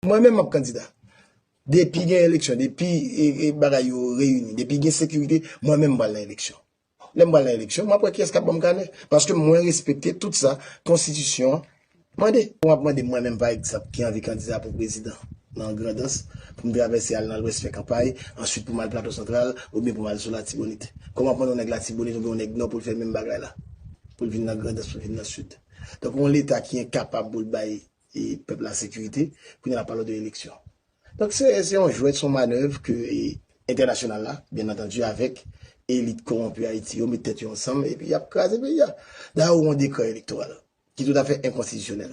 Mwen menm map kandida. Depi gen eleksyon, depi bagay yo reyini, depi gen sekirite, mwen menm pral nan eleksyon. Lèm pral nan eleksyon, map wè kiyès kap banm kanè. Paske mwen respekte tout sa konstitisyon mande. Ou ap mande mwen menm pa egzanp ki anvi kandida pou prezidan nan Grandans, pou m travèse al nan Lwès fè kanpay, answit pou m al Plato Santral, oubyen pou m al sou Latibonit. Kòman w ap mande yon nèg Latibonit oubyen yon nèg Nò pou l fè menm bagay la? Pou l vin nan Grandans, pou l vin nan Sid. Donk yon leta ki enkapab pou l bay. pèp la sekirite, kounye a n ap pale w de eleksyon. Donk se yon jwèt, se yon manèv ke entènasyonal la, byen antandu avèk elit kowonpi Ayiti yo met tèt yo ansanm epi y ap kraze peyi a. Dayè ou gen yon dekrè elektoral ki toutafè enkonstitisyonèl.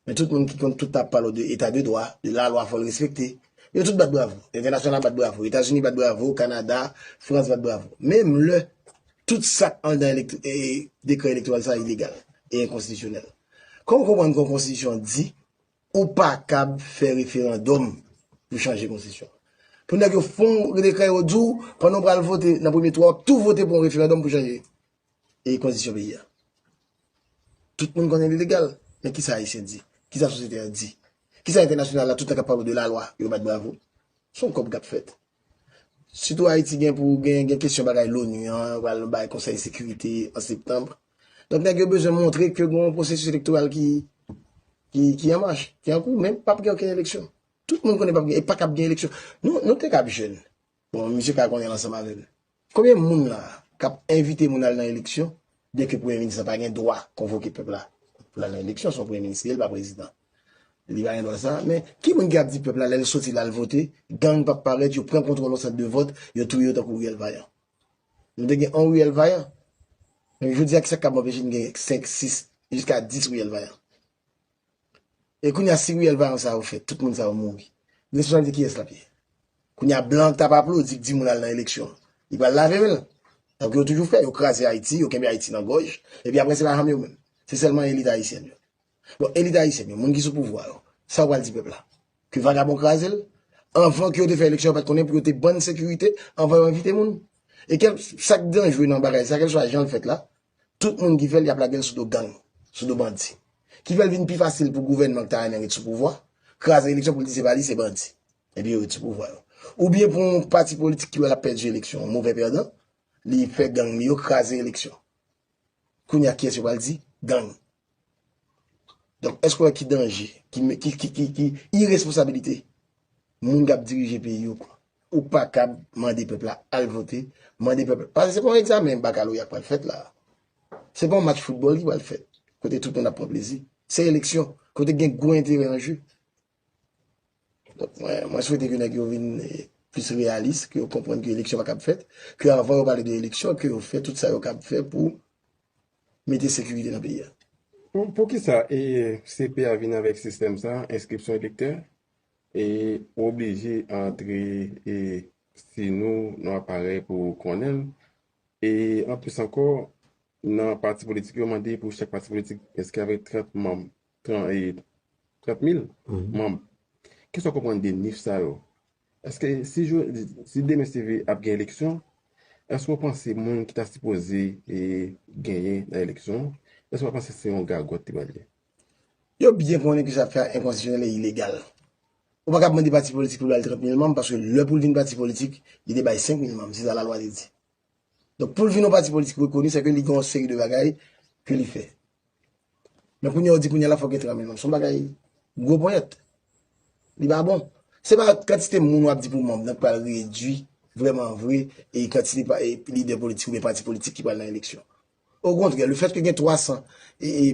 Men tout moun ki konn tout ap pale w de eta de dwa, de lalwa fò l respekte. Yo tout bat bravo. Entènasyonal la bat bravo. Etazini bat bravo. Kanada, Frans bat bravo. Menm lè tout sa k anndan dekrè elektoral sa a ilegal e enkonstitisyonèl. Kòm ou konprann kon konstitisyon di ou pa kab fè referandòm pou chanje konstitisyon an. Pou nèg yo fon dekrè yo di w pandan ou pral vote nan premye tou a wap tou vote pou yon referandòm pou chanje e konstitisyon peyi a. Tout moun konnen li legal men kisa ayisyen di? Kisa sosyete a di? Kisa entènasyonal la tout tan kap pale w de lalwa yo bat bravo? Son kòb kap fèt. Sitou Ayiti gen pou gen gen kesyon bagay l'ONU an, yo pral bay konsèy sekirite an septanm. Donk nèg yo bezwen montre ke gen yon pwosesis elektoral ki ki an mach, ki an kou, men pap gen okenn eleksyon. Tout moun konnen pap gen, e pa kab gen eleksyon. Nou te kab jèn, bon misye ka konnen l ansanm avè m. Konbyen moun la kap envite moun al nan eleksyon byen ke premye minis la pa gen dwa konvoke pèp la pou lal nan eleksyon son premye minis li ye li pa prezidan li pa gen dwa sa men ki moun ki ap di pèp la lèl soti lal vote gang pap parèt yo pran kontwòl yon sant de vòt yo touye yo tankou riyèl vayan nou te gen on riyèl vayan men jodia kisak kap anpeche n gen 5 6 jiska 10 riyèl vayan. E kounya si riyèl vayon sa yo fèt tout moun sa yo mouri responsabilite kiyès lap ye kounya blan ki tap aplodi ki di moun al nan eleksyon li pral lave menl tankou yo toujou fè yo kraze ayiti yo kenbe ayiti nan gòj epi aprè se pa fanm yo menm se sèlman elit ayisyèn yo bon elit ayisyèn yo moun ki sou pouvwa yo sa yo pral di pèp la ke vagabon krazel anvan ke yo te fè eleksyon yo pat konnen pou yo te bann sekirite anvan yo envite moun e kèlk sak danjre nan bagay sa kèlswa janl fèt la Tout moun ki fè l y ap lage l sou do gang, sou do bandi. Ki fè l vin pi fasil pou gouvènman ki ta renmen ret sou pouvwa, kraze eleksyon pou l di se pa li, se bandi. Epi yo ret sou pouvwa yo. Oubyen pou yon pati politik ki wè l ap pèdi eleksyon, yon move pèdan, li fè gang li yo kraze eleksyon. Kounye a kiyès yo pral di? Gang. Donk èske w wè ki danje, ki iresponsabilite moun k ap dirije peyi yo pran? Ou pa kab mande pèp la al vote, mande pèp la, paske se pa yon egzamen bakaloreya k pral fèt la a, se pa yon match foutbòl ki pral fèt kote tout moun ap pran plezi, se eleksyon kote gen gwo enterè an je. Donk mwen swete ke nèg yo vin plis reyalis, ke yo konprann ke eleksyon pa kab fèt, ke avan yo pale de eleksyon, ke yo fè tout sa yo kab fè pou mete sekirite nan peyi a. Poukisa CPA vin avèk sistèm sa, enskripsyon elektè, e ou oblije antre si nou nan aparèy pou ou konnen l, e anplis ankò nan pati politik yo mande pou chak pati politik enskri avèk 30 manm. 30 mil manb. Kè sa w konprann de nif sa yo? Eske si demen si ve ap gen eleksyon, eske w panse moun ki ta sipoze genyen nan eleksyon an, eske w pa panse se yon gagòt li pral ye? Yo byen konnen ke sa ap fè a enkonstitisyonèl e ilegal. Ou pa ka ap mande pati politik pou l bay 30 mil manb, paske lè pou l vin pati politik, li te bay 5 mil manb, se sa lalwa te di. Donk pou l vin yon pati politik rekoni, se ke li gen yon seri de bagay ke li fè. Men kounye a ou di kounye a la fòk gen tranble manm. Son bagay gwo ponyèt. Li pa bon. Se pa kantite moun wap di pou manm nan ki pral redwi vreman vre e kantite lidè politik oubyen pati politik ki pral nan eleksyon. Okontrè, lefètke gen 300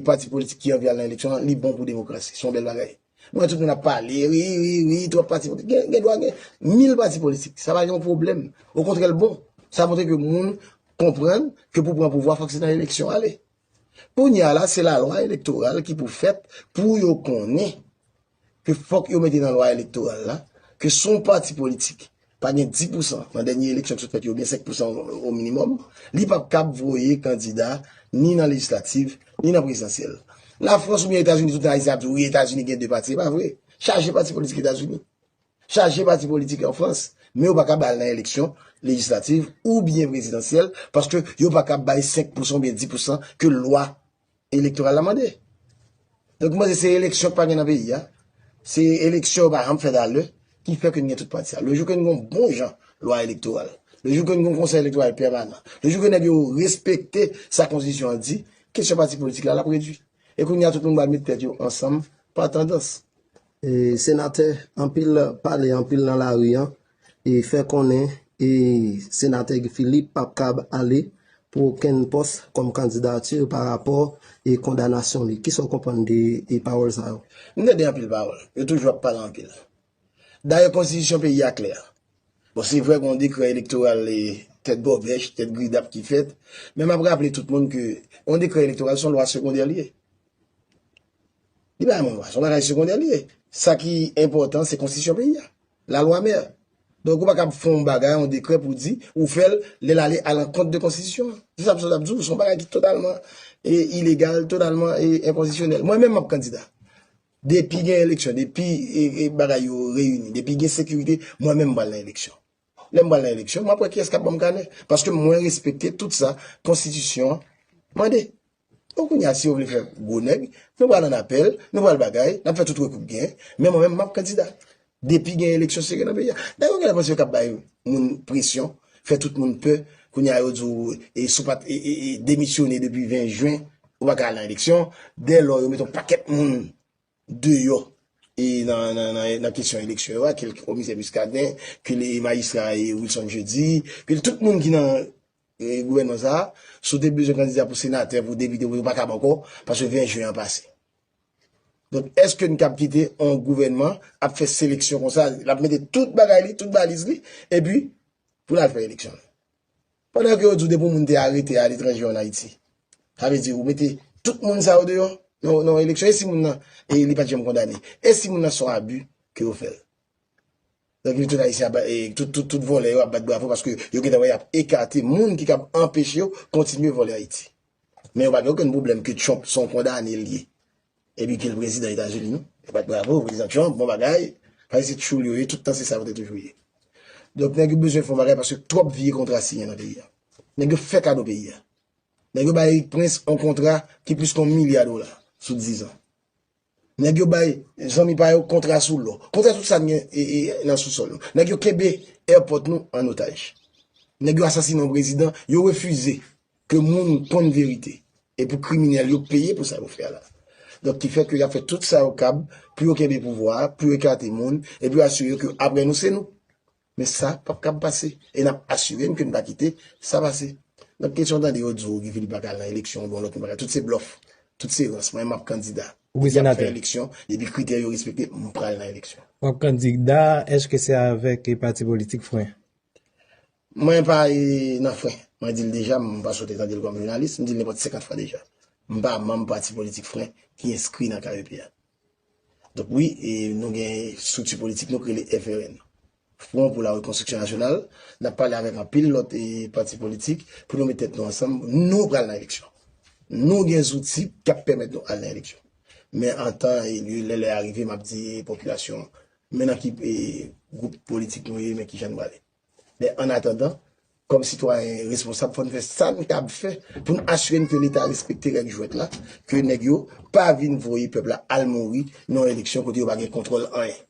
pati politik ki anvi al nan eleksyon an, li bon pou demokrasi. Se yon bèl bagay. Mwen wè tout moun ap pale, ri, ri, ri, twòp pati politik. Gen dwa gen 1000 pati politik. Sa pa gen yon pwoblèm. Okontrè, l bon. Sa montre ke moun konprann ke pou pran pouvwa fòk se nan eleksyon ale. Kounye a la, se lalwa elektoral ki pou fèt pou yo konnen ke fòk yo mete nan lwa elektoral la, ke si yon pati politik pa gen 10 pousan nan dènye eleksyon ki sot fèt yo, ou byen 5 pousan o minimòm, li pap kab voye kandida ni nan lejislativ, ni nan prezidansyèl. Lafrans ou byen Etazini, tout ayisyen ap di wi Etazini gen 2 pati, e pa vre. Chaje pati politik Etazini. Chaje pati politik an Frans. Men yo pa kab al nan eleksyon lejislativ ou byen prezidansyèl, paske yo pa kab bay 5 pousan ou byen 10 pousan ke lwa Elektoral la mande. Donk mwen se se eleksyon ki pa gen nan peyi ya. Se eleksyon pa janm fèt a lè. Ki fè ke n gen tout pati sa. Le jou ke n gen yon bon jan lwa elektoral. Le jou ke n gen yon konsèy elektoral pèmanan. Le jou ke nèg yo respekte sa konstitisyon an di. Kesyon pati politik la l ap redwi. E kounye a tout moun ba met tèt yo ansanm pa tandans. Senatè, anpil pale, anpil nan lari an. e fè konnen e Senatè Guy Philippe pap kab ale pou okenn pòs kòm kandidati pa rapò e kondanasyon li. Kisa w konprann de e pawòl sa yo? M tande anpil pawòl. Yo toujou ap pale anpil. Dayè konstitisyon peyi a klè. Bon se vre gen yon dekrè elektoral tèt bòbèch, tèt gridap ki fèt, men map raple tout moun ke yon dekrè elektoral son lwa segondè li ye. Li pa yon lwa, son bagay segondè li ye. Sa ki enpòtan se konstitisyon peyi a. La loi mère. Donk ou pa kab fè yon bagay, yon dekrè pou di ou fè l lè l ale alankont de konstitisyon an. Se sa m sot ap di w, se yon bagay ki totalman ilegal, totalman enkonstitisyonèl. Mwen menm m ap kandida. Depi gen eleksyon, depi bagay yo reyini, depi gen sekirite, mwen menm m pral nan eleksyon. Lè m pral nan eleksyon, m ap wè kiyès k ap ban m kanè. Paske mwen respekte tout sa konstitisyon an mande. Bon kounya si yo vle fè gwo nèg, nou pral an apèl, nou pral bagay, nap fè tout rekou k gen, men mwen menm map kandida depi gen eleksyon sere nan peyi a. Dayè ou genlè panse yo kap bay moun presyon, fè tout moun pè, kounya yo di w e si w pat demisyone depi 20 jen ou pa ka al nan eleksyon, dè lò yo met yon pakèt moun deyò e nan kesyon eleksyon yo a, ke l komisè Muscadin, ke l majistra Wilson Jeudi, ke l tout moun ki nan Gouvènman sa a, si w te bezwen kandida pou senatè, pou depite, ou pa kab ankò, paske 20 jen an pase. Donk, èske n kab kite yon gouvènman ap fè seleksyon konsa, l ap mete tout bagay li, tout valiz li, epi pou l al fè eleksyon? Pandan ke yo di w depi yon moun te arete aletranje ou ann Ayiti, sa vle di ou mete tout moun sa yo deyò nan yon eleksyon, e si moun nan li pa t janm kondane? E si moun nan se yon abi ke yo fè l? Nèg yo tout ayisyen ap tout vòlè yo ap bat bravo paske yo gentan wè yap ekate moun ki kab anpeche yo kontinye vòlè ayiti men yo pa gen okenn pwoblèm ke trump son kondane li ye epi kel prezidan etazini non yo bat bravo prezidan trump bon bagay paske se tchoul yo ye tout tan se sa yo te toujou ye donk nèg yo bezwen fon bagay paske twòp vye kontra siyen nan peyi a nèg yo fè kado peyi a nèg yo bay erik prince yon kontra ki plis ke yon milya dola sou dizan. Nèg yo bay zanmi pa yo kontra sou lò, kontra sou tout sa n gen nan sousòl nou. Nèg yo kenbe èpòt nou an otaj. Nèg yo asasinen yon prezidan, yo refize ke moun konn verite. E pou kriminèl yo peye pou sa yo fè la. Donk ki fè ke y ap fè tout sa yo kab pou yo kenbe pouvwa a, pou yo ekate moun, e pou yo asire ke apre nou se nou. Men sa pap kab pase e n ap asire n ke n pa kite sa pase. Nan kesyon tande yo di w Guy Philippe pa ka al nan eleksyon oubyen yon lòt moun pa ka, tout se blòf, tout se rans. Mwen m ap kandida. Mwen di y ap fè eleksyon, depi kritè yo respekte, m pral nan eleksyon. W ap kandida, èske se avèk pati politik fren? Mwen pa nan fren. Mwen di l deja, m pa sote tande l kòm jounalis, m di l nenpòt 50 fwa deja. M pa manm pati politik fren ki enskri nan KEP a. Donk wi, nou gen estrikti politik nou k rele FRN, Fwon pou la Rekonstriksyon Nasyonal. N ap pale avèk anpil lòt pati politik pou nou met tèt nou ansanm. Nou pral nan eleksyon. Nou gen zouti k ap pèmèt nou al nan eleksyon. Men an tan e lye, lè lè a rive, m ap di popilasyon an men nan ki gwoup politik nou ye, men ki jan nou prale. Men ann atandan, kòm sitwayen responsab fò n fè sa n kab fè pou n asire n ke leta respekte règ jwèt la, ke nèg yo pa vin voye pèp la al mouri nan yon eleksyon kote yo pa gen kontwòl anyen.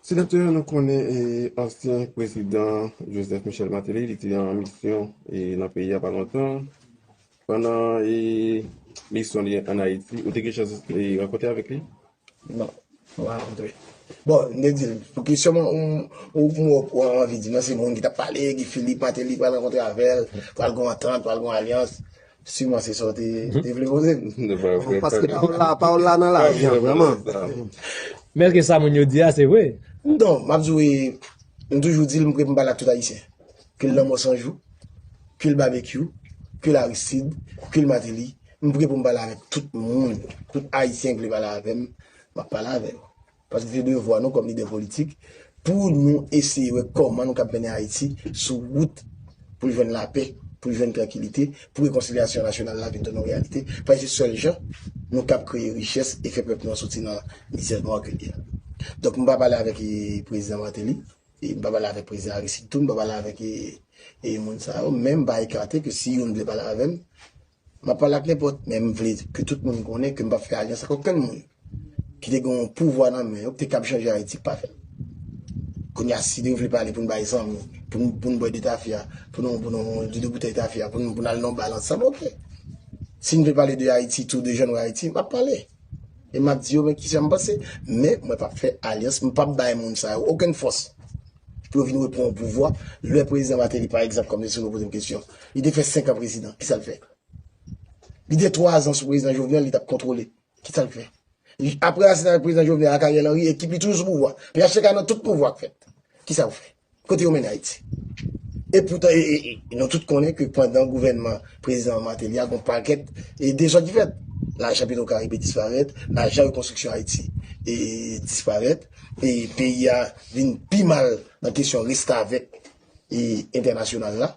Senatè, nou konnen ansyen prezidan Joseph Michel Martelly, li te an misyon nan peyi a pa lontan. Pandan misyon li ann Ayiti, ou te gen chans rankontre avèk li? Non, mwen pa kontre. Bon, m te di l, pou ki sèlman ou an anvi di, nan se moun ki t ap pale, Guy Philippe, Martelly pral rankontre avè l, pral gon antant, pral gon alyans, siman se sa w te vle poze m. Paske pa w la nan lavi an vrèman. Men eske sa moun yo di a se vre? Non, m ap di w, m toujou di l m prè pou m pale ak tout Ayisyen. Ke l Lanmò Sanjou, ke l Babekyou, ke l Aristide, ke l Martelly. M pre pou m pale avèk tout moun, tout Ayisyen ki vle pale avè m, m ap pale avè yo. Paske se devwa nou kòm lidè politik pou nou eseye wè kòman nou kab mennen Ayiti sou wout pou l jwenn lapè, pou l jwenn trankilite, pou rekonsilyasyon nasyonal la vin tounen yon reyalite. Paske se sèl jan nou kab kreye richès e fè pèp nou an soti nan mizè nwa ke l ye a. Donk m pa pale avèk Prezidan Martelly, e m pa pale avèk Prezidan Aristide tou, m pa pale avèk moun sa yo, men m pa ekate ke si youn vle pale avè m, M ap pale ak nenpòt, men m vle ke tout moun konnen ke m pa p fè alyans ak okenn moun ki te gen yon pouvwa nan men yo ki te kab chanje Ayiti k pa fè l. Kounye a si nou vle pale pou n bay zanmi, pou n bwè de tafya, pou nou pou nou de de boutèy tafya, pou nou al nan yon bal ansanm, ok. Si n vle pale de Ayiti tou, de jan nou wè Ayiti, m ap pale. E map di yo men kisa m panse, men mwen pap fè alyans, m pap bay moun sa yo okenn fòs pou yo vin repran pouvwa. Lè prezidan Martelly pa egzanp, kòm mesye nou poze m kesyon, li te fè 5 an prezidan, kisa l fè? Li te 3 zan sou prezidan Jovenel, li tap kontwole, kisa l fè? Aprè asasinay prezidan Jovenel ak Ariel Henry, ekip li toujou sou pouvwa. Phtk nan tout pouvwa k fèt, kisa yo fè? Kote yo mennen Ayiti? E poutan nou tout konnen ke pandan gouvènman prezidan Martelly a gon pakèt dezòd ki fèt. Lajan petro karibe disparèt, lajan rekonstriksyon Ayiti disparèt, peyi a vin pi mal nan kesyon restavèk entènasyonal la.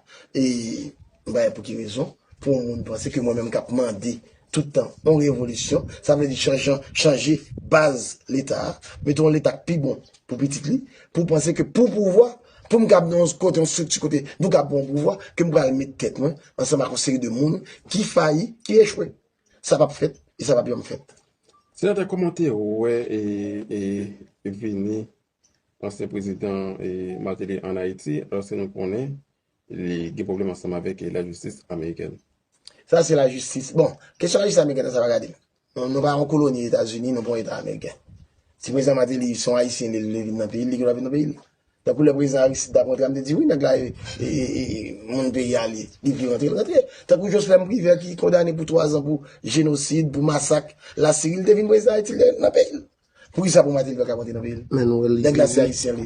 Mpa wè pou ki rezon pou yon moun panse ke mwen menm kap mande Tout tan, yon revolisyon, sa vle di chanjan, chanje baz leta a, mete yon leta k pi bon pou pitit li, pou panse ke pou pouvwa, pou m kab nan yon kote, yon strikti kote nou kab pran yon pouvwa, ke m pral met tèt mwen ansanm ak yon seri de moun ki fayi, ki echwe. Sa pap fèt e sa pap janm fèt. Senatè kòman w te wè vini ansyen prezidan Martelly an Ayiti, alòske nou konnen li gen pwoblèm ansanm avèk lajistis amerikèn. Sa se lajistis. Bon, kesyon lajistis amerikèn nan sa pa gade l. Nou pa yon koloni Etazini, nou pa yon eta ameriken. Si prezidan Martelly se yon ayisyen li vle vin nan peyi l, li gen dwa vin nan peyi l. Tankou lè prezidan Aristide t ap rantre a, m te di wi nèg la e moun peyi a li, li vle rantre, l rantre. Tankou Joslèm Privè ki kondane pou twazan pou jenosid, pou masak Lasiri, li te vin prezidan Ayiti, l te nan peyi l. Poukisa pou Martelly pa ka monte nan peyi l? Nèg la se Ayisyen li.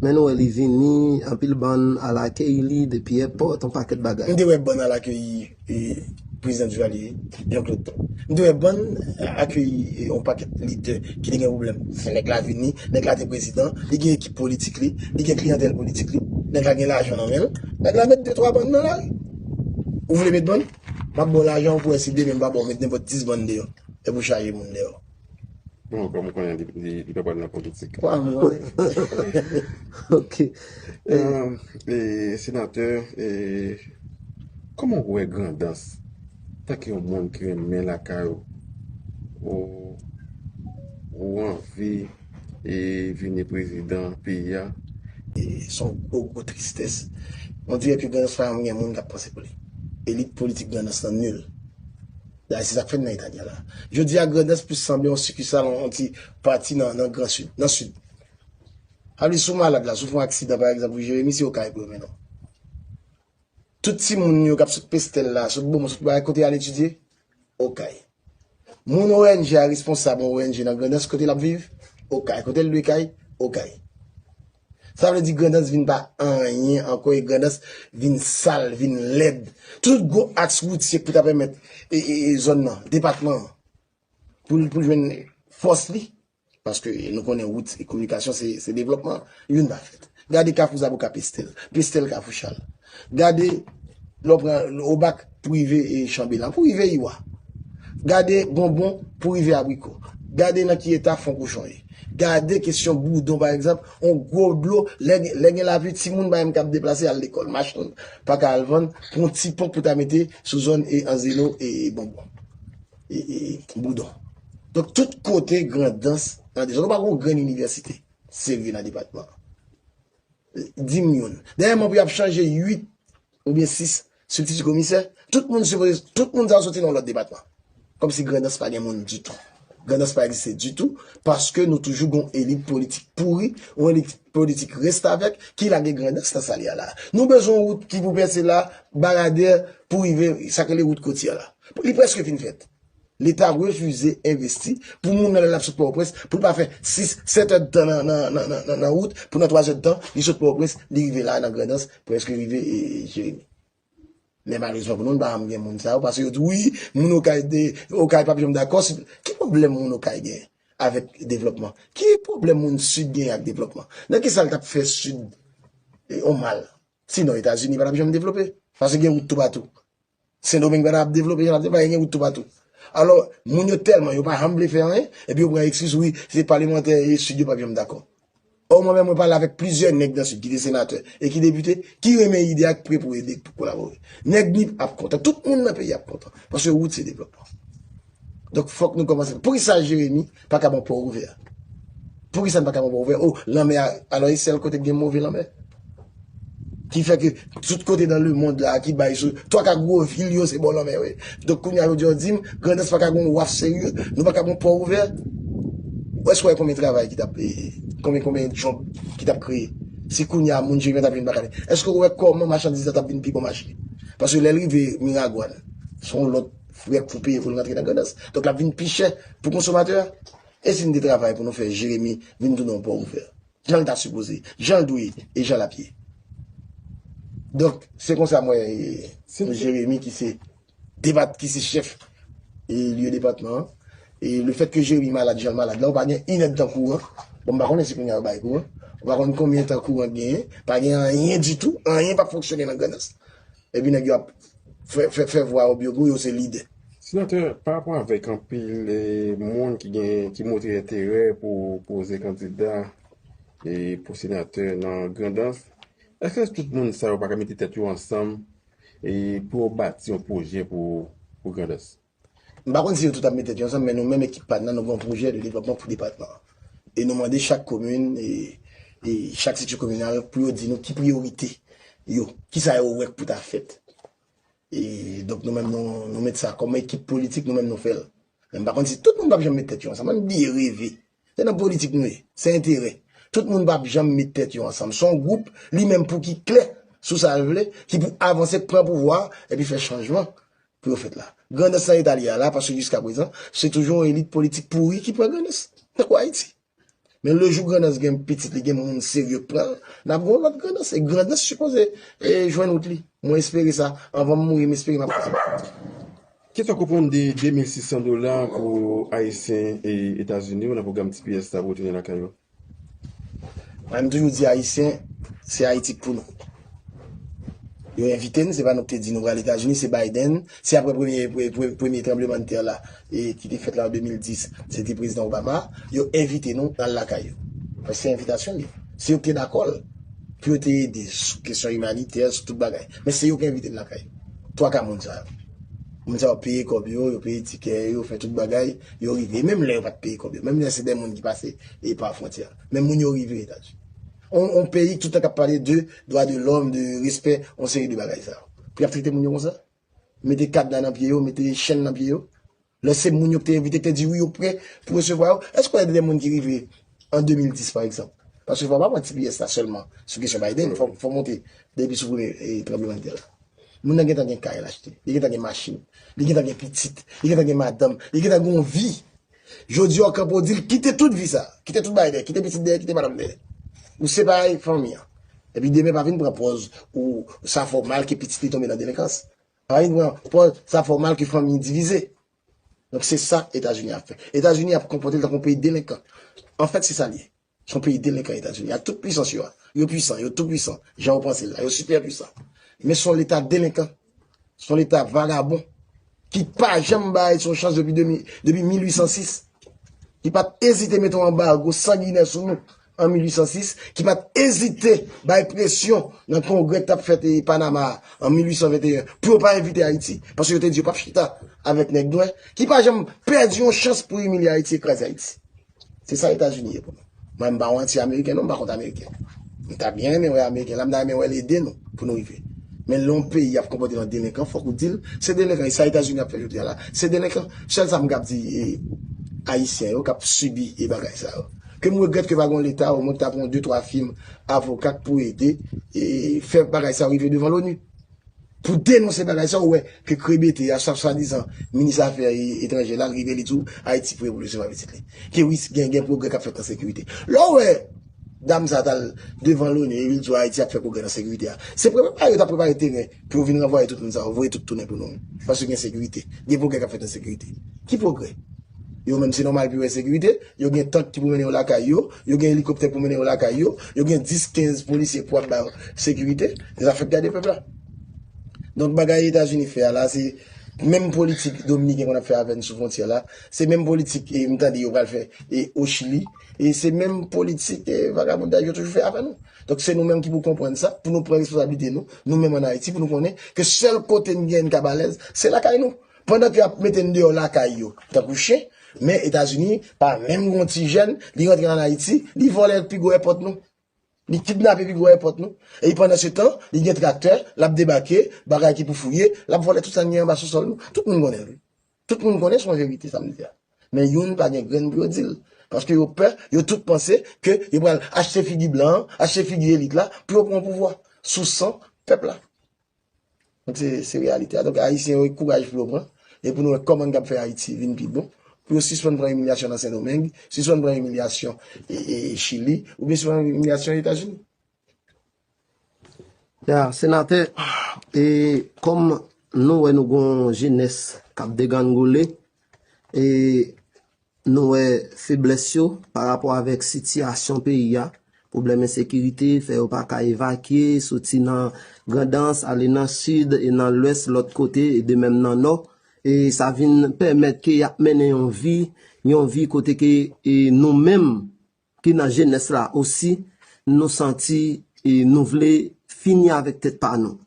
Men nou wè li vini, anpil bann al akeyi li depi èpòt, yon pakèt bagay. M te wè bann al akeyi Prezidan Duvalier, Jean Claude tou. M te wè bann akeyi yon pakèt lidè ki te gen pwoblèm. Men nèg la vini, nèg la te prezidan, li gen ekip politik li, li gen kliyantèl politik li, nèg la gen lajan nan men l, nèg la met de twa bann nan lari. Ou vle met bann? M ap ba w lajan pou wè si demen m pa ba w met nenpòt dis bann deyò. Epi w chaje moun deyò. Mwen kòm konnen li pa pral nan politik. Kwa mwen. Ok. Senatè, kòman ou wè Grandans tanke yon moun ki renmen lakay ou? Ou anvi vini prezidan peyi a? Son gwo gwo tristès. Ondirè ke Grandans pa janm gen moun kap panse pou li. Elit politik Grandans lan nul. Dayè se sa k fè n nan eta n ye la. Jodi a Grandans plis sanble yon sikisal, yon ti pati nan gran sid, nan sid. Sa vle di si w malad la, si w fè yon aksidan pa egzanp ou Jeremi se Okay pou yo mennen w. Tout timoun yo k ap sot Pestèl la, sot Bomon, sot Barèt kote y al etidye? Okay. Moun ong a responsab yon ong nan Grandans kote l ap viv? Okay. Kote l lwe kay? Okay. Sa vle di Grandans vin pa anyen ankò e Grandans vin sal, vin lèd. Tout gwo aks woutye pou ta pèmèt zòn nan, depatman an, pou l jwenn fòs li, paske nou konnen wout e kominikasyon se devlòpman, youn pa fèt. Gade Kafou Zabou ka Pestèl, Pestèl Kafou Chal. Gade lè w pran obak pou rive chanbelan, pou rive iwa. Gade bonbon pou rive abriko. Gade nan ki eta fon kochon ye. Gade kesyon boudon pa egzanp, yon gwo dlo, lè gen lapli timoun pa menm kab deplase al lekòl, machann pa ka al vann pou yon ti ponp pou ta mete sou zòn anzeno e bonbon e boudon. Donk tout kote grandans nan dezòd. Ou pa gen yon grenn inivèsite serye nan depatman an. Dim youn. Dèyèman pou yap chanje 8 oubyen 6 sibtiti komisè, tout moun sipoze, tout moun sa yo soti nan yon lòt depatman. Kòmsi Grandans pa gen moun ditou. Grandans pa egziste ditou paske nou toujou gon elit politik pouri, yon elit politik restavèk ki lage Grandans nan sa li a la. Nou bezwen yon wout ki pou pèse la, Baradè pou rive sa yo rele wout kotyè la. Li prèske fin fèt. Leta refize envesti pou moun nan lè l ap sot Pòtoprens pou l pa fè 6, 7 èd tan nan wout pou nan 3 èd tan li sot Pòtoprens li rive la a nan Grandans prèske rive Jeremi. Men malezman pou nou n pa janm gen moun sa yo paske yo di wi moun Okay de Okay p ap janm dakò si ki pwoblèm moun Okay gen avèk devlòpman? Ki pwoblèm moun Sid gen ak devlòpman? Nan ki sa l t ap fè Sid yon mal? Sinon Etazini pa t ap janm devlope paske gen wout toupatou. Sendomeng pa ta ap devlope jan l ap devlope la, e gen wout toupatou. Alò, moun yo tèlman, yo pa janm vle fè anyen, epi yo pran ekskiz, wi, se palemantè e Sid yo pap janm dakò. Ò, mwen menm mwen pale avèk plizyè nèg nan Sid ki te senatè e ki depite ki renmen ide a, ki pre pou ede, pou kolabore. Nèg Nip ap kontan, tout moun nan peyi a ap kontan, paske wout se devlòpman. Donk fòk nou kòmanse. Poukisa Jeremi pa ka ban pò ouvè? Poukisa n pa ka ban pò ouvè? O, lanmè a, alò e sèl kote ki gen move lanmè? Ki fè ke tout kote nan lemond la ki bay sou, twa ka gwo vil yo se bò lanmè yo ye. Donk kounye a yo di yo di m, Grandans pa ka gen yon waf serye? Nou pa ka ban pò ouvè? Ou èske w wè konbyen travay ki t ap, konbyen konbyen djòb ki t ap kreye si kounye a moun Jeremi an t ap vin pa ka li? Èske ou wè kòman machandiz la t ap vin pi bon mache? Paske lè l rive Miragwàn, s on lòt. Frè k fout peye pou l rantre nan Grandans. Donk l ap vin pi chè pou konsomatè a. E si n te travay pou nou fè Jeremi vin tounen yon pò ouvè? Jan l ta sipoze, jan l dwe e jan l ap ye. Donk, se konsa m wè Jeremi ki se depat, ki se chèf lye depatman an. E lefèt ke Jeremi malad jan l malad la, ou pa gen inèdtan kouran. Bon, m pa konnen si kounye a yo bay kouran. Ou pa konn konbyen tan kouran genyen. Pa gen anyen ditou. Anyen p ap fonksyone nan Grandans. Epi nèg yo ap fè vwa yo byo gou yo se lidè. Senatè, pa rapò avèk anpil moun ki gen, ki montre enterè pou poze kandida pou senatè nan Grandans, èske tout moun sa yo pa ka mete tèt yo ansanm pou yo bati yon pwojè pou Grandans? M pa konn si yo tout ap met tèt yo ansanm men nou menm ekip pa n nan nou gen yon pwojè de devlòpman pou depatman an. E nou mande chak komin e chak seksyon kominal pou yo di nou ki priyorite yo, ki sa yo wè k pou ta fèt. E donk nou menm nou met sa kòm ekip politik nou menm nou fè l. Men m pa konn si tout moun p ap janm met tèt yo ansanm. An n bliye reve. Se nan politik nou ye. Se enterè. Tout moun pap janm met tèt yo ansanm. Se yon gwoup, li menm pou ki klè sou sa l vle, ki pou avanse, pran pouvwa a, epi fè chanjman pou yo fèt la. Grandans lan etabli a la, paske jiskaprezan, se toujou yon elit politik pouri ki pran Grandans. Tankou Ayiti. Men lejou Grandans gen pitit li, gen moun serye k pran l, n ap gen yon lòt Grandans. E Grandans sipoze jwenn wout li. Mwen espere sa. Anvan m mouri, m espere m ap fè sa. Kisa w konprann de 2,600 dola pou Ayisyen Etazini yo nan pwogram tps la pou retounen lakay yo? Mwen m toujou di Ayisyen, se Ayiti k pou nou. Yo envite n, se pa nou k te di nou pral Etazini, se Biden, se aprè premye tranblemann tè la ki te fèt la an 2010, se te Prezidan Obama, yo envite nou al lakay yo. Paske se envitasyon li. Se yo k te dakò l pou yo te ede sou kesyon imanitè, sou tout bagay. Men se yo k envite n lakay yo. 3 ka moun sa yo. Moun sa yo peye kòb yo, yo peye tikè yo, fè tout bagay, yo rive. Menm lè yo pa t peye kòb yo, menm lè se dè moun ki pase e pa fwontyè a. Men moun yo rive Etazini. On peyi ki tout tan k ap pale de dwa de lòm, de respè, on seri de bagay sa yo. Pou y ap trete moun yo konsa? Mete kadna nan pye yo, mete chenn nan pye yo? Lè se moun yo ki te envite, yo te di wi yo pre pou resevwa yo. Èske ou konnen de de moun ki rive an 2010 pa egzanp? Paske fò w pa pran tps la sèlman sou kesyon Biden, fò w monte depi sou premye tranbleman de tè la. Moun nan gentan gen kay l achte, li gentan gen machin, li gentan gen pitit, li gentan gen madanm, li gentan gen yon vi. Jodi a ou kanpe ou di l kite tout vi sa, kite tout bagay dèyè, kite pitit dèyè, kite madanm dèyè. Ou separe fanmi an. Epi demen pa vin pran pòz ou sa fè w mal ke pitit li tonbe nan delenkans. Marine pran pòz sa fè w mal ke fanmi divize. Donk se sa Etazini ap fè. Etazini ap konpòte l tankou yon peyi delenkan. Anfèt se sa l ye. Se yon peyi delenkan Etazini ak tout pwisans yo a. Yo pwisan, yo tou pwisan jan ou panse l la. Yo sipè pwisan. Men se yon leta delenkan. Se yon leta vagabon ki pa janm bay Ayiti yon chans depi 1806. Ki pa t ezite mete yon anbargo sanginè sou nou an 1806, ki pa t ezite bay presyon nan kongrè ki t ap fèt Panama a an 1821 pou yo pa envite Ayiti, paske yo te di yo pa p chita avèk nèg nwè, ki pa janm pèdi yon chans pou imilye Ayiti e kraze Ayiti. Se sa Etazini ye pou nou. Mwen m pa yon anti-ameriken non, m pa kont ameriken. M ta byen renmen wè ameriken la, m ta renmen wè l ede nou pou nou rive. Men lè yon peyi ap konpòte l an delenkan, fòk ou di l se delenkan. E sa Etazini ap fè jodi a la, se delenkan. Sèl sa m kab di ayisyen yo k ap sibi e bagay sa yo. Kem regrèt ke pa gon leta omwen ta pran de twa fim avoka k pou ede fè bagay sa rive devan loni pou denonse bagay sa ou wè ke krebete ya sa swadizan minis afè etranje la rive li diw ayiti pre pou resevwa pitit li ke wi gen pwogrè kap fèt nan sekirite lè ou wè dam sa tal devan loni epi l diw ayiti ap fè pwogrè nan sekirite ya se prepare yo tap prepare teren Pou yo vin ranvwaye tout moun sa yo, voye tout tounen pou nou. Paske gen sekirite. Gen pwogrè k ap fèt an sekirite. Ki pwogrè? Yo menm se nòmal pou yo wè sekirite. Yo gen tank ki pou mennen yo lakay yo. Yo gen elikoptè pou mennen yo lakay yo. Yo gen 10, 15 polisye pou ap ba yo sekirite. Se zafè gade pèp la. Donk bagay Etazini fè a la, se menm politik Dominiken konn ap fè avè n sou fwontyè la. Se menm politik m tande yo pral fè o Chili. E se menm politik e vagabondaj yo toujou fè avè nou. Donk se nou menm ki pou konprann sa, pou nou pran responsabilite nou, nou menm an Ayiti, pou nou konnen ke sèl kote n gen n kab alèz, se lakay nou. Pandan ke y ap mete n deyò lakay yo, tankou chen, men Etazini pa menm gen yon ti jèn, li rantre an Ayiti, li vòlè pi gwo èpòt nou. Li kidnape pi gwo èpòt nou. E pandan se tan, li gen traktè, l ap debake, bagay ki pou fouye, l ap vòlè tout sa n gen anba sousòl nou. Tout moun konnen l wi. Tout moun konnen son verite sa m di a. Men youn pa gen grenn pou yo di l. Paske yo pè, yo tout panse ke yo pral achte figi blan an, achte figi elit la pou yo pran pouvwa sou san pèp la. Donk se se reyalite a. Donk ayisyen yo kouraj pou yo pran e pou nou wè kòman n kab fè Ayiti vin pi bon. Pou yo sispann pran imilyasyon nan Sendomeng, sispann pran imilyasyon e e Chili oubyen sispann imilyasyon Etazini. Ya, senatè, e kòm nou wè nou gon jenès k ap deganngoule, e nou wè feblès yo pa rapò avèk sitiyasyon peyi a, pwoblèm ensekirite fè yo pa ka evakye, soti nan Grandans ale nan Sid e nan Lwès lòt kote e de menm nan Nò, e sa vin pèmèt ke y ap mennen yon vi, yon vi kote ke e nou menm Ki nan jenès la osi nou santi nou vle fini avèk tèt pa nou.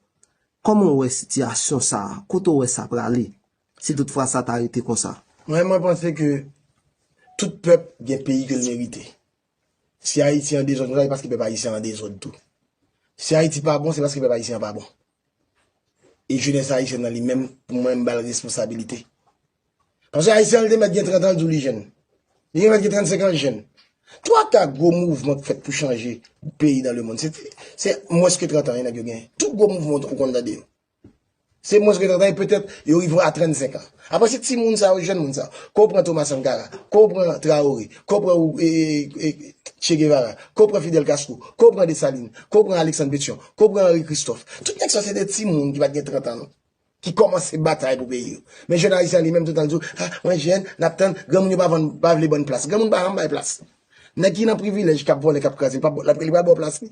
Kòman w wè sitiyasyon sa a? Kote w wè sa prale si tout fwa sa ta rete konsa? Mwen, mwen panse ke tout pèp gen peyi ke l merite. Si Ayiti an dezòd konsa, se paske pèp ayisyen an dezòd tou. Si Ayiti pa bon, se paske pèp ayisyen an pa bon. E jenès ayisyèn nan li menm, pou mwen, m ba l responsabilite. Paske Ayisyen li te mèt gen 30 an li di w li jèn. Li te mèt gen 35 an li jèn. Twa ka gwo mouvman ki fèt pou chanje peyi nan lemonn se mwens ke 30 an nèg yo gen. Tout gwo mouvman ou konn tande yo. Se mwens ke 30 an e petèt yo rive a 35 an. Apre se ti moun sa yo, jèn moun sa yo. Ke w pran Toma Sankara, ke w pran Traore, ke w pran Che Guevara, ke w pran Fidel Castro, ke w pran Dessalines, ke w pran Alexandre Petion, ke w pran Henri Christophe. Tout nèg sa yo se de ti moun ki pa t gen 30 an. ki kòmanse batay pou peyi yo. Men jounalis la li menm toutan l di w, a, mwen jèn, n ap tann, granmoun yo pa vann, pa vle ban n plas. Granmoun pa janm bay plas. Nèg ki nan privilèj, k ap vòlè, k ap kraze, li pa pral ba w plas li.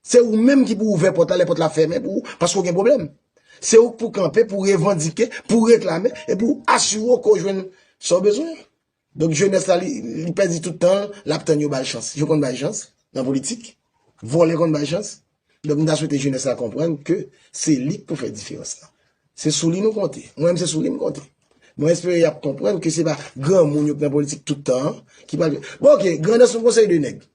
Se ou menm ki pou ouvè pòt la lè pòt la fèmen pou ou, paske ou gen pwoblèm. Se ou k pou kanpe, pou revandike, pou reklame, epi pou asire w ke w jwenn sa w bezwen. Donk jenès la li pèdi tout tan l, l ap tann yo ba l chans. Yo konn bay chans nan politik, vòlè konn bay chans. Donk m ta swete jenès la konprann ke se li k pou fè diferans lan. Se sou li nou konte. Mwen menm se sou li m konte. Mwen espere y ap konprann ke se pa granmoun yo k nan politik tout tan an ki pral. Bon ok, grandans m konseye 2 nèg.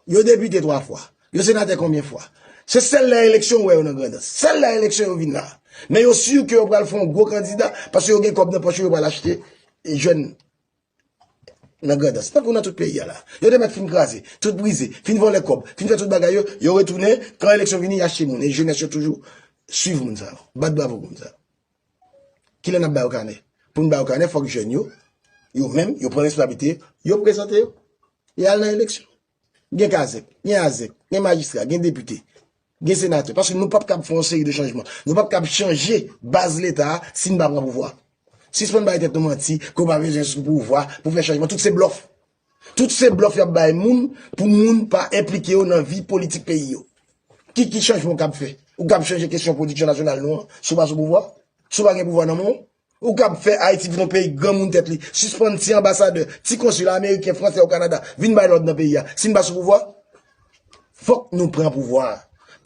Yo depite 3 fwa. Yo senatè konbyen fwa. Se sèl lè eleksyon ou wè yo nan Grandans. Sèl lè eleksyon yo vin la. Men yo sur ke yo pral fè yon gwo kandida paske yo gen kòb nan pòch yo, yo pral achte jèn nan Grandans. Tankou nan tout peyi a la. Yo te mèt fin kraze, tout brize, fin vòlè kòb, fin fè tout bagay yo, yo retounen, kan eleksyon vini, y achte moun. E jenès yo toujou swiv moun sa yo. Bat bravo pou moun sa yo. Kilè n ap ba yo kanè? Pou n ba yo kanè, fòk jèn yo, yo menm, yo pran responsablite, yo prezante yo, yo al nan eleksyon. Gen kazèk, gen azèk, gen majistra, gen depite, gen senatè, paske nou pap kab fè yon seri de chanjman, nou pap kab chanje baz Leta a si n pa pran pouvwa. Sispann bay tèt nou manti ke w pa bezwen sou pouvwa pou fè chanjman, tout se blòf. Tout se blòf yap bay moun pou moun pa enplike yo nan vi politik peyi yo. Ki ki chanjman ou kab fè? Ou kab chanje kesyon pwodiksyon nasyonal nou an si w pa sou pouvwa? Si w pa gen pouvwa nan men w? Ou kab fè Ayiti vin yon peyi granmoun tèt li, sispann ti anbasadè, ti konsila ameriken, fransè ou kanada vin bay lòd nan peyi a si n pa sou pouvwa? Fòk nou pran pouvwa a.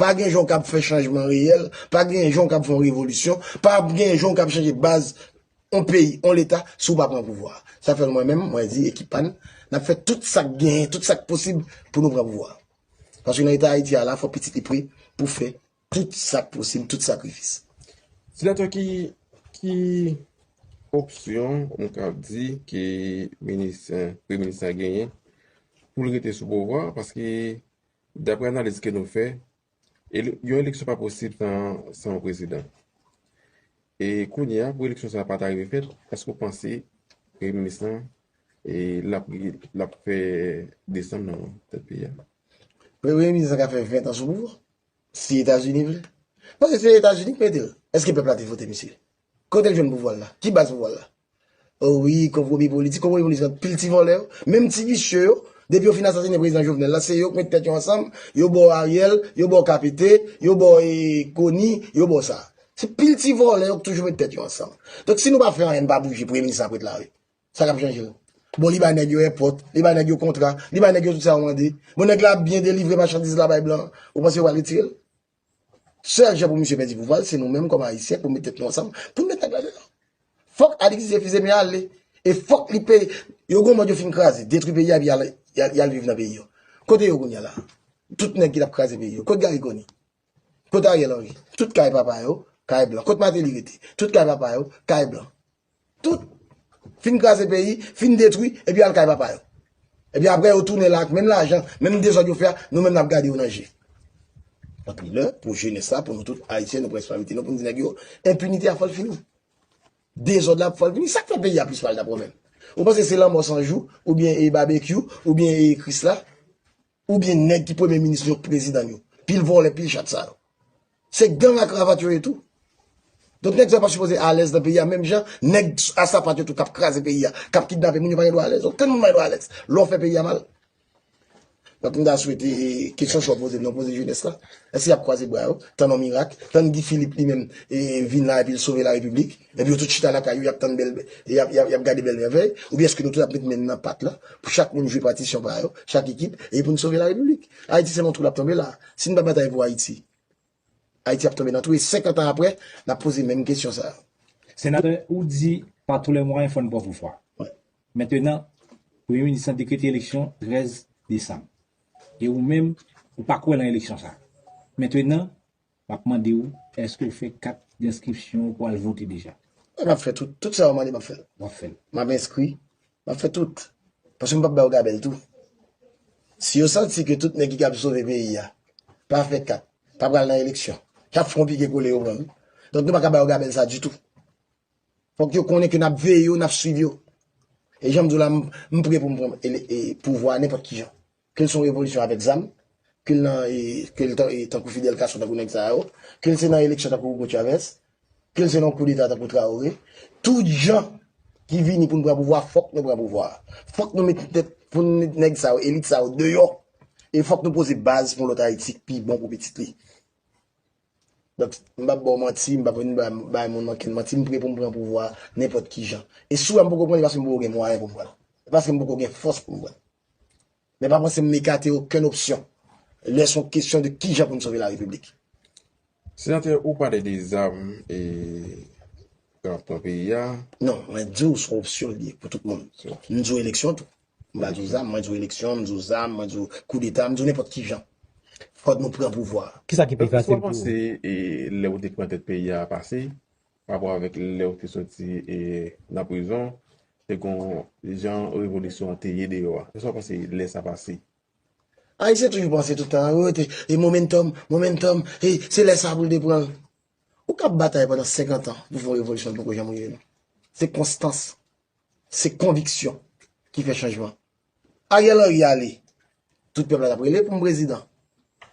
Pa gen jan w kab fè chanjman reyèl, pa gen jan w kab fè yon revolisyon, pa gen jan w kab chanje baz yon peyi, yon leta si w pa pran pouvwa a. Sa fè mwen menm, mwen di ekip pa n, n ap fè tout sa k genyen, tout sa k posib pou nou pran pouvwa a. Paske nan eta Ayiti a la, fòk pitit li pre pou fè tout sa k posib, tout sakrifis. Senatè, ki opsyon nou ka di ke premye minis la genyen pou l rete sou pouvwa a? Paske dapre analiz ke nou fè, Yon eleksyon pa posib san yon prezidan. E kounye a pou eleksyon sa pa ta rive fèt, èske ou panse premye minis la l ap fè desanm nan tèt peyi a? Premye minis la ka fè 20 an sou pouvwa, si Etazini vle. Paske se Etazini ki mete l. Èske pèp la te vote misye? Kote l jwenn pouvwa l la? Ki baz pouvwa l la? Oh wi konpromi politik, konpromi politik ant pil ti vòlè yo, menm ti visye yo, depi yo fin asasine prezidan Jovenel la se yo k met tèt yo ansanm, yo bò Ariel, yo bò KPT, yo bò Koni, yo bò sa. Se pil ti vòlè yo k toujou met tèt yo ansanm. Donk si nou pa fè anyen n pa bouje premye minis sa ap ret la wi. Sa k ap chanje l? Bon li bay nèg yo èpòt, li bay nèg yo kontra, li bay nèg yo tout sa yo mande. Bon nèg la ap byen delivre machandiz la bay blan, ou panse yo pral retire l? Sèl jan pou misye pèdi pouvwa l se nou menm kòm Ayisyen pou nou met tèt nou ansanm pou nou met nèg la deyò. Fòk Alix Didier Fils-Aimé ale e fòk li peye. Yo gen yon mòd yo fin kraze, detwi peyi a epi y al viv nan peyi yo. Kote yo kounya la a? Tout nèg ki t ap kraze peyi yo. Kot Gary Conille? Kot Ariel Henry? Tout kay papa yo, kay blan. Kot Martelly rete? Tout kay papa yo, kay blan. Tout, fin kraze peyi, fin detwi, epi al kay papa yo. Epi apre yo tounen la ak menm lajan, menm dezòd yo fè a, nou menm n ap gade yo nan je. Donk li lè pou jenès la, pou nou tout Ayisyen, nou pran responsablite nou pou nou di nèg yo, enpinite a fò l fini. Dezòd la fò l fini. Sa k fè peyi a plis mal dabò menm? Ou panse se lanmò 100 jou, oubyen e babekyou, oubyen e Krisla? Ou byen nèg ki premye minis nou yo k prezidan n yo. Pil vòlè pil chat sa yo. Se gang a kravat yo ye tou. Donk nèg sa yo pa sipoze alèz nan peyi a menm jan nèg a sapat yo tou kap kraze peyi a, kap kidnape moun yo pa gen dwa alèz. Okenn moun pa gen dwa alèz lè w fè peyi a mal. Donk m ta swete kesyon sa w poze m nan w poze jenès la. Èske y ap kwaze bra yo, tann yon mirak, tann Guy Philippe li menm vin la epi l sove la repiblik? Epi yo tout chita lakay yo yap tann bèl yap gade bèl mèvèy oubyen eske nou tout ap met men nan pat la pou chak moun jwe patisyon pa yo chak ekip e pou n sove la repiblik ayiti se nan twou lap tonbe la si n pa batay pou ayiti ayiti ap tonbe nan twou e 50 an aprè nap poze menm kesyon sa yo. Senatè ou di pa tou lè mwayen fò n pran pou fwa mentenan premye minis lan dekrete eleksyon 13 desanm e ou menm ou pa kwè lan eleksyon sa mentenan Map mande ou eske ou fè kat denskripsyon ou pou al vote deja? Wi map fè tout, tout sa ou mande map fèl. Wap fèl. Map enskri, map fè tout. Paske m pap bay ou gabèl tou. Si yo santi ke tout nèg ki kab sove peyi ya pa fè kat, pa pral nan eleksyon, yap fè yon pike kole yo menm. Donk nou paka bay yo gabèl sa ditou. Fok yo konnen ke nap veye yo, nap swiv yo. E janm di w la m pre pou m pran pouvwa nenpot kijan. Ke l son revolisyon avèk zam, ke l nan ke l tankou Fidel Castro tankou nèg sa yo, ke l se nan eleksyon tankou Hugo Chavez, ke l se nan koudeta tankou Traoré, tout jan ki vini pou n pran pouvwa fòk nou pran pouvwa. Fòk nou met tèt pou n met nèg sa yo, elit sa yo deyò e fòk nou poze baz pou yon lòt Ayiti k pi bon pou pitit li. Donk m pap ba w manti, m pap vin bay moun ankenn manti, m pre pou m pran pouvwa nenpòt ki jan. E si w wè m poko pran li paske m poko gen mwayen pou m pran l. E paske m poko gen fòs pou m pran l. Men pa panse m ekate okenn opsyon lè son kesyon de kijan pou n sove la repiblik. Senatè, ou pale de zam e drapo peyi a. Non, mwen di w son opsyon li ye pou tout moun. M di w eleksyon tou. M pa di w zam, mwen di w eleksyon, m di w zam, mwen di w koudeta, m di w nenpòt kijan. Fòk nou pran pouvwa a. Kisa ki pi fasil pou ou? Èske sa w panse lè ou te pran tèt peyi a pase Parapò avèk lèw te soti nan prizon te gon jan revolisyon an te ye deyò a. Esaw panse lè sa pase? Ayisyen toujou panse tout tan yo te e momentum, momentum e se lè sa poul te pranl. Ou kap batay pandan 50 ans pou fè yon revolisyon li poko janm rive non. Se konstans, se konviksyon ki fè chanjman. Ariel Henry ale, tout pèp la tap rele poum prezidan.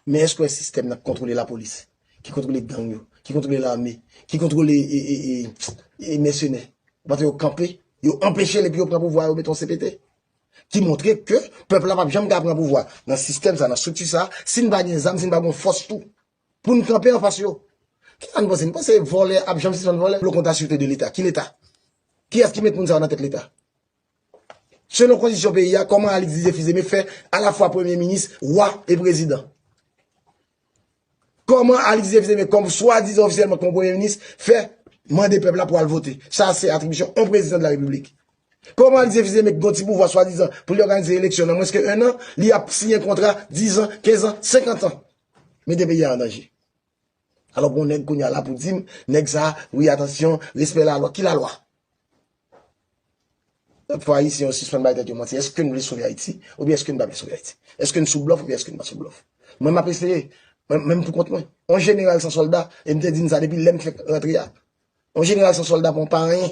Men èske w wè sistèm nan ki kontwole lapolis, ki kontwole gang yo, ki kontwole lame, ki kontwole mèsenè, ou panse yo kanpe, yo anpeche l epi yo pran pouvwa yo mete yon CPT? Ki montre ke pèp la pap janm ka pran pouvwa nan sistèm sa, nan estrikti sa, si n pa gen zam, si n pa gen yon fòs tou pou n kanpe anfas yo. Kisa n panse? Nou panse vòlè ap janm sispann vòlè? Lè w konte asirte de leta, ki leta? Kiyès ki met moun sa yo nan tèt leta? Selon kondisyon peyi a, kòman Alix Didier Fils-Aimé fè alafwa premye minis, wa e prezidan? Kòman Alix Didier Fils-Aimé kòm swadizan ofisyèlman kòm premye minis fè mande pèp la pou al vote? Sa a se atribisyon on prezidan de la Repiblik. Kòman Alix Didier Fils-Aimé ki gon ti pouvwa swadizan pou li òganize eleksyon nan mwens ke 1 an, li ap siyen kontra 10 an, 15 an, 50 an? Mete peyi a an danje. Alò gon nèg kounya la pou dim nèg sa wi atansyon respè la lwa ki la lwa? Lòt fwa ayisyen yo sispann bay tèt yo manti eske n vle sove ayiti oubyen eske n pa vle sove ayiti? Eske n sou blòf oubyen eske n pa sou blòf? Mwen map eseye menm pou kont mwen on jeneral san sòlda e m te di n sa depi lè m fèk rantre a Yon jeneral san solda pon pa anyen.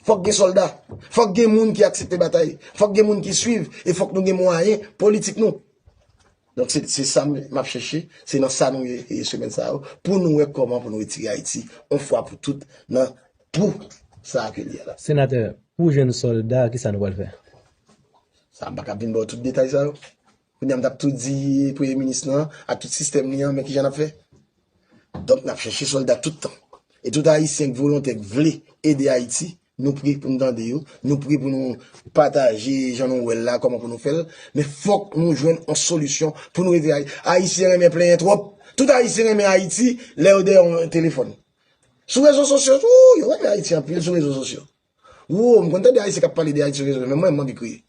Fòk gen solda. Fòk gen moun ki aksepte batay. Fòk gen moun ki swiv. E fòk nou gen mwayen politik nou. Donk se sa m ap chèche. Se nan sa nou ye semèn sa yo. Pou nou wè kòman pou nou retire Ayiti. On fwa pou tout nan twou sa a ke li ye la. Senatè, pou jèn solda, ki sa nou pral fè? Sa m pa ka vin ba w tout detay sa yo. Kounye a m t ap tou di premye minis lan ak tout sistèm li an men kijan n ap fè? Donk n ap chèche sòlda tout tan. E tout Ayisyen k volontè k vle ede Ayiti, nou pre pou n tande yo, nou pre pou nou pataje jan nou wè l la kòman pou nou fè l, men fòk nou jwenn yon solisyon pou nou ede Ayiti. Ayisyen renmen plenyen twòp. Tout Ayisyen renmen Ayiti lè yo dèyè yon telefòn. Sou rezo sosyo tou, yo renmen Ayiti anpil sou rezo sosyo. Woo, m konn tande Ayisyen k ap pale de Ayiti sou rezo men mwen m anvi kriye.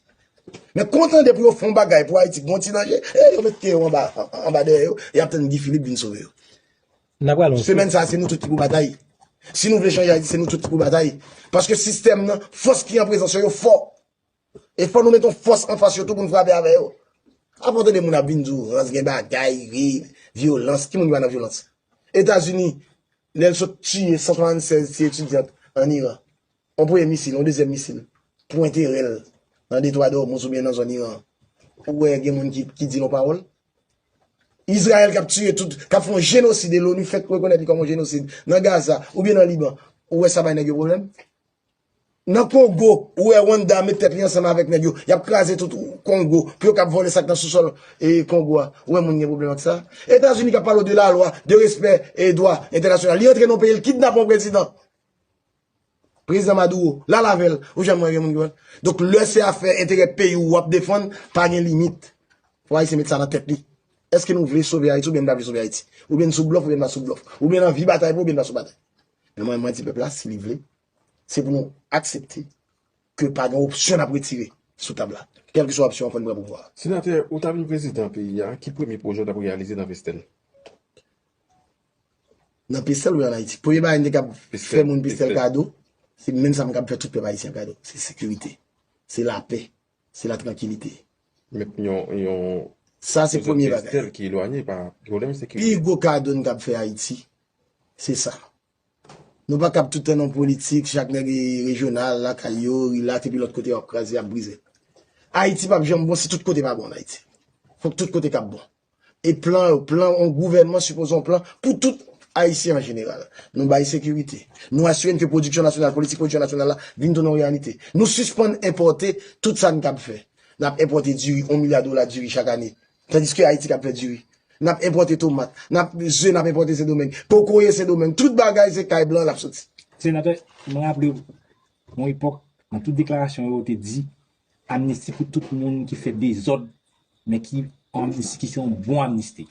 Men konn tande pou yo fè yon bagay pou Ayiti k gon ti danje, e yo mete yo anba dèyè yo, y ap tann Guy Philippe vin sove yo. Semèn sa a se nou tout ki pou batay. Si nou vle chanje Ayiti se nou tout ki pou batay. Paske sistèm nan, fòs ki an prezans yo, yo fò. E fò nou met yon fòs anfas yo tou pou n frape avè yo. Apa w tande moun ap vin di w rans gen bagay, ri, vyolans. Ki moun ki pa nan vyolans? Etazini, lè l sot tiye 176 ti etidyant ann Iran, yon premye misil, yon dezyèm misil pwente rèl nan detwa dòmouz oubyen nan zòn Iran an, ou wè gen moun ki di yon pawòl? Izrayèl k ap tiye tout, k ap fè yon jenosid e l'ONU fèk rekonèt li kòm yon jenosid nan Gaza oubyen nan Liban, ou wè sa bay nèg yo pwoblèm? Nan Congo ou wè Rwanda met tèt li ansanm avèk nèg yo yap kraze tout Congo pou yo kap vòlè sak nan sou sòl Congo a ou wè moun gen pwoblèm ak sa Etazini kap pale w de la lwa de respè e dwa entènasyonal li antre nan peyi l kidnape yon prezidan Prezidan Maduro lal avè l ou janm wè gen moun ki wè donk lè se afè enterè peyi w wap defann pa gen limit fò Ayisyen met sa nan tèt li èske nou vle sove Ayiti oubyen n pa vle sove Ayiti oubyen n sou blòf oubyen n pa sou blòf oubyen n anvi batay pou oubyen n pa sou batay. Men mwen di pèp la si li vle, se pou nou aksepte ke pa gen opsyon nap retire sou tab la. Kèlkeswa opsyon an fò n pran pouvwa a. Senatè, ou ta vin prezidan peyi a, ki premye pwojè w tap reyalize nan Pestèl? Nan Pestèl oubyen an Ayiti? Premye bagay m te kab fè moun Pestèl kado, se menm sa m kab fè tout pèp ayisyen kado, se sekirite, se lapè, se latrankilite. Met yon Sa se premye bagay. Pestèl ki elwanye pa pwoblèm sekirite. Pi gwo kado n kab fè Ayiti, Se sa. Nou pa kab tout tan nan politik, chak nèg e rejyonal, lakay yo, rilaks epi lòt kote yo ap kraze, ap brize. Ayiti pap janm bon si tout kote pa bon an Ayiti. Fòk tout kote kab bon. E plan yo, plan yon gouvènman sipoze yon plan pou tout Ayisyen an jeneral. Nou bay sekirite. Nou asire n ke pwodiksyon nasyonal, politik pwodiksyon nasyonal la vin tounen yon reyalite. Nou sispann enpòte tout sa n kab fè. N ap enpòte diri, yon milya dola diri chak ane. Tandiske Ayiti kap fè diri. Nap enpòte tomat. Nap ze nap enpòte Sendomeng. Kokoye Sendomeng. Tout bagay se kay blan lap soti. Senatè, m raple w, yon epòk, nan tout deklarasyon yo, ou te di, amnisti pou tout moun ki fè dezòd, men ki yon amnisti ki se yon bon amnisti.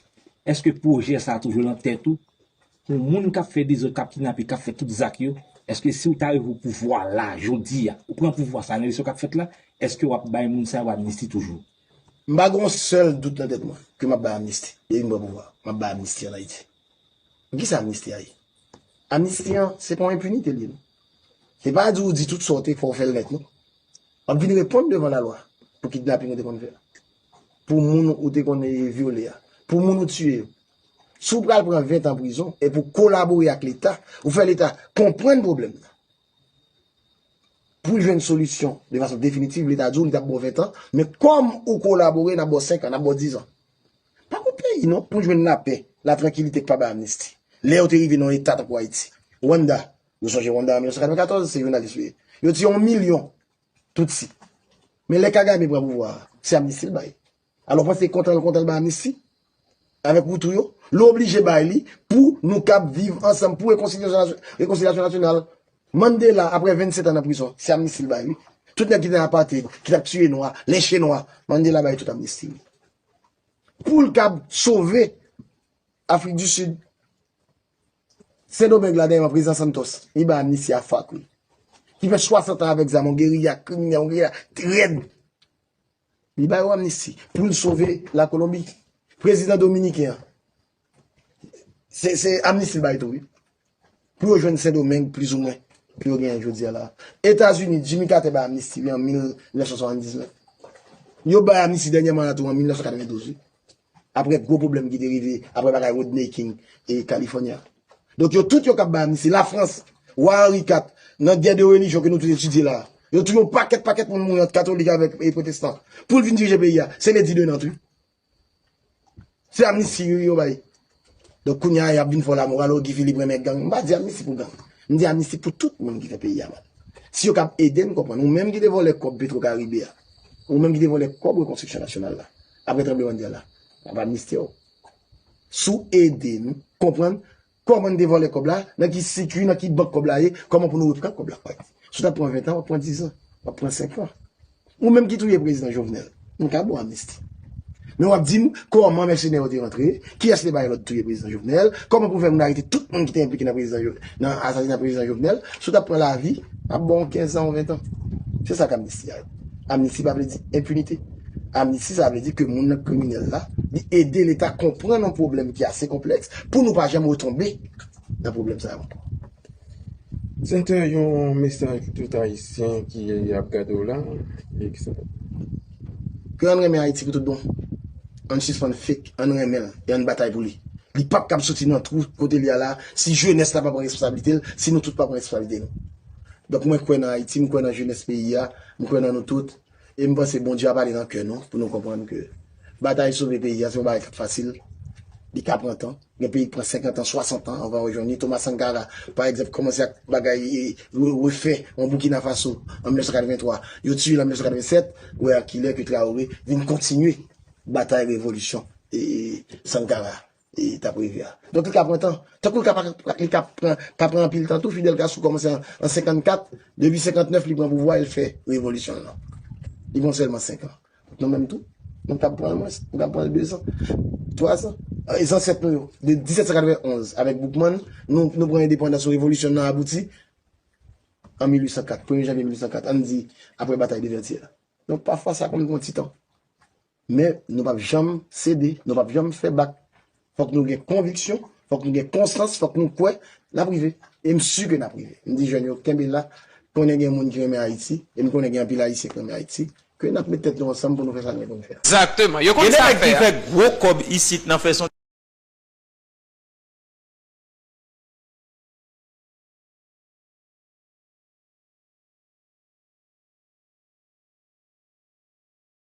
Eske pwojè sa a toujou lan tèt ou? Pou moun kap fè dezòd, kap kidnape, kap fè tout zak yo, eske si ou ta rive opouvwa la, jodi a, ou pran pouvwa sa, nan eleksyon kap fèt la, eske wap bay moun sa yo amnisti toujou? M pa gen yon sèl dout nan tèt mwen ke m ap bay amnisti. Yo vin pran pouvwa, m ap bay amnisti an Ayiti. Men ki sa amnisti a ye? Amnisti an, se pa yon enpinite l ye non. Se pa di ou di tout sa ou te fè, ou fè l nèt non. W ap vin reponn devan lalwa pou kidnaping ou te konn fè a, pou moun ou te konn vyole a, pou moun ou tiye yo. Si w pral pran ventan prizon, e pou w kolabore ak Leta, ou fè Leta konprann pwoblèm nan, Pou jwenn solisyon de fason definitiv leta di w li tap ba w 20 an men kòm ou kolabore nap ba w 5 an nap ba w 10 an. Pa kont peyi non pou jwenn lapè, latrankilite k pa bay amnisti. Lè yo te rive nan yon eta tankou Ayiti, Rwanda, nou sonje Rwanda an 1994 se jounalis yo ye. Yo tiye yon milyon Tutsi. Men lè Kagame pran pouvwa a, se amnisti l bay. Alò pran se kontanl kontanl bay amnisti avèk woutou yo, nou oblije bay li pou nou kab viv ansanm pou rekonsilyasyon nasyonal. Mandela aprè 27 an nan prizon se amnisti li bay wi. Tout nèg ki te nan apartheid, ki tap tiye nwa, lynche nwa, Mandela bay tout amnisti wi. Poul kab sove Afrik di Sid. Sendomeng la dèyèman prezidan Santos, li bay amnisti a FARC wi. Ki fè 60 an avèk zam yon geriya kriminèl, yon geriya rèd. Li ba yo amnisti pou l sove la Kolonbi. Prezidan dominiken an, se amnisti l bay tou wi. Pou yo jwenn Sendomeng plizoumwen pou yo genyen jodi a la. Etazini, Jimmy Carter bay amnisti li an 1979. Yo bay amnisti dènyèman la tou an 1992 wi. Aprè gwo pwoblèm ki te rive aprè bagay Rodney King e California a. Donk yo tout yo kap bay amnisti. La Frans, Wa Henri iv, nan gè de relijyon ke nou tout etidye la a. Yo touye yon pakèt pakèt moun mouri ant katolik avèk pwotestan. Poul vin dirije peyi a, se lè di de Nantes wi. Se amnisti wi yo bay. Donk kounya yap vin fè la moral oh Guy Philippe renmen gang. M pa di amnisti pou gang. M di amnisti pou tout moun ki fè peyi a mal. Si yo kab ede n konprann. Ou menm ki te vòlè kòb Petro Caribe a. Ou menm ki te vòlè kòb rekonstriksyon nasyonal la. Aprè tranblemann tè la. M ap amnistiye w. Si w ede n konprann kòman n te vòlè kòb la, nan ki sikui, nan ki bank kòb la ye, kòman pou nou repran kòb la. Si w tap pran 20 an, w ap pran 10 an. W ap pran 5 an. Ou menm ki touye prezidan Jovenel, nou ka bou amnisti. Men wap dim, kòman mèsenè yo te rantre, kiyès te bay lòd touye prezidan Jovenel, kòman pou fè moun arete tout moun ki te enplike nan asasina prezidan Jovenel, si w tap pran lavi, map ba w 15 an ou 20 an. Se sa k amnisti a ye. Amnisti pa vle di enpinite. Amnisti sa vle di ke moun nan kriminèl la, li ede leta konprann yon pwoblèm ki ase konplèks pou nou pa janm retonbe nan pwoblèm sa yo ankò. Sète yon mesaj pou tout ayisyen ki ap gade w la. Ke ann renmen Ayiti pou tout bon. Ann sispann fake, ann renmen l e ann batay pou li. Li pap kab soti nan twou kote li ye la si jenès la pa pran responsablite l, si nou tout pa pran responsablite nou. Donk mwen kwè nan Ayiti, mwen kwè nan jenès peyi a, mwen kwè nan nou tout. E m panse Bondye ap ale nan kè nou pou nou konprann ke batay sove peyi a se yon bagay k ap fasil, li ka pran tan. Gen peyi k pran senkantan, swasantan anvan yo jwenn li. Thomas Sankara, pa egzanp, kòmanse ak bagay refè an Boukina Faso an 1983. Yo tiye l an 1987. Ou wè a kilè ke Traoré vin kontinye batay revolisyon Sankara a. Li tap rive a. Donk li ka pran tan. Tankou li ka pa li ka pran ka pran anpil tan tou Fidel Castro kòmanse an 54, depi 59 li pran pouvwa el fè revolisyon l lan. Li pran sèlman 5 an. Nou menm tou, nou kab pran mwens, nou kab pran 2 zan, 3 zan. E zansèt nou yo, de 1791 avèk Boukman, nou nou pran endepandans ou revolisyon l lan abouti an 1804, premye janvye 1804, ann di apre batay de Vètyè a. Donk pafwa sa konn pran ti tan. Men nou pap janm sede, nou pap janm fè bak. Fòk nou gen konviksyon, fòk nou gen konstans, fòk nou kwè n ap rive. E m si ke n ap rive. M di jèn yo kenbe la, m konnen gen moun ki renmen Ayiti, e m konnen gen anpil Ayisyen ki renmen Ayiti, ke n ap met tèt nou ansanm pou nou fè sa nou gen pou nou fè a. Exactement. Yo konn sa fè a.